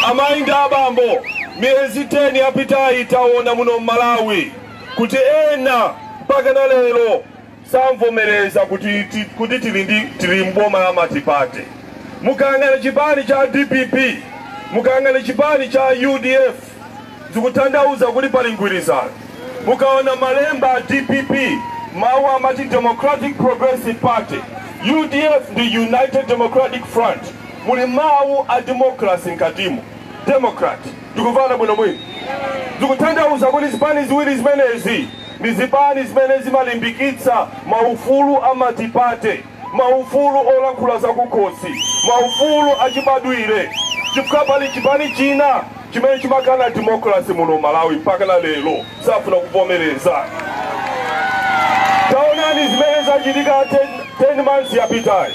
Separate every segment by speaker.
Speaker 1: Amai ndi abambo, miyezi 10 yapitayi taona muno m'Malawi kuti ena mpakana lero samvomereza kuti, ti, kuti tili, ndi, tili m'boma la matipate. Mukayang'ana chipani cha DPP, mukayang'ana chipani cha UDF zikutanthauza kuti pali mgwirizano. Mukaona malemba a DPP mawu amati Democratic Progressive Party, UDF ndi United Democratic Front. muli mawu a democracy mkatimo democrat tikumvana bwino bwino zikutanthauza kuti zipani ziwiri zimenezi ndi zipani zimene zimalimbikitsa maufulu a matipate maufulu olankhula zakukhosi maufulu achibadwire chifukwa pali chipani china chimene chimakana democracy muno Malawi mpakana lero safuna kuvomereza taonani zimene zachitika 10, 10 months yapitayi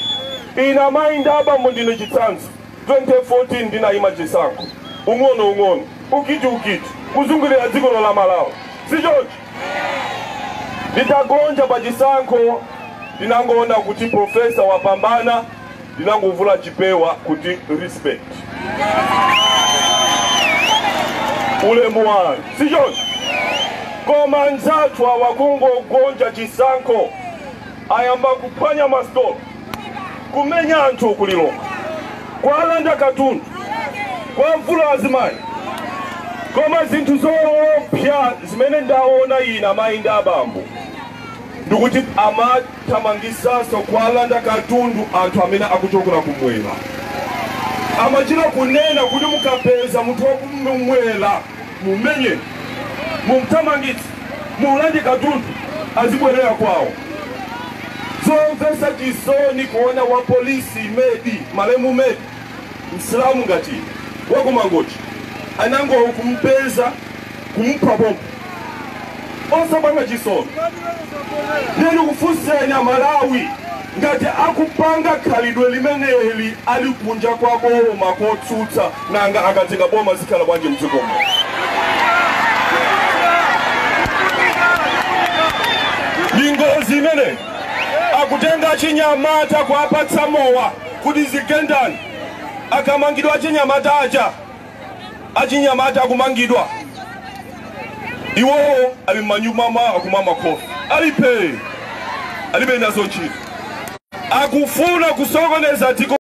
Speaker 1: ine amayi ndi abambo ndine chitsanzo 2014 ndinayima chisankho ung'ono ung'ono ukiti ukiti kuzungulira dziko la Malawi sichoncho nditagonja pa chisankho ndinangoona kuti profesa wapambana ndinangovula chipewa kuti respect ulemu wanu sichoncho koma anzathu awa kungogonja chisankho ayamba kuphwanya masitolo kumenya anthu ku Lilongwe kuwalanda katundu kuwavula azimayi koma zinthu zoopsa zimene ndaona ine amayi ndi abambo ndikuti ama thamangisanso kuwalanda katundu anthu amene akuchokera ku mwera amachita kunena kuti mukapeza munthu wakumwera mumenyeni mumthamangitse muulande katundu azibwerera kwawo zomvetsa chisoni kuona wa polisi Imedi malemu Imedi msilamu ngati wakumangochi anangokumpeza kumupha pompo osapanga chisoni ndiye ndikufunseni amalawi ngati akupanga khalidwe limeneli ali kunja kwa boma kotsutsa nanga akatenga boma zikhala bwanji mdziko muno ndi ngozi imene akutenga achinyamata kuwapatsa mowa kuti dzigendani akamangidwa achinyamata aja achinyamata akumangidwa iwowo ali m'manyumba mwawo akumwa makofi ali phee alibe nazo ntchito akufuna kusokoneza dziko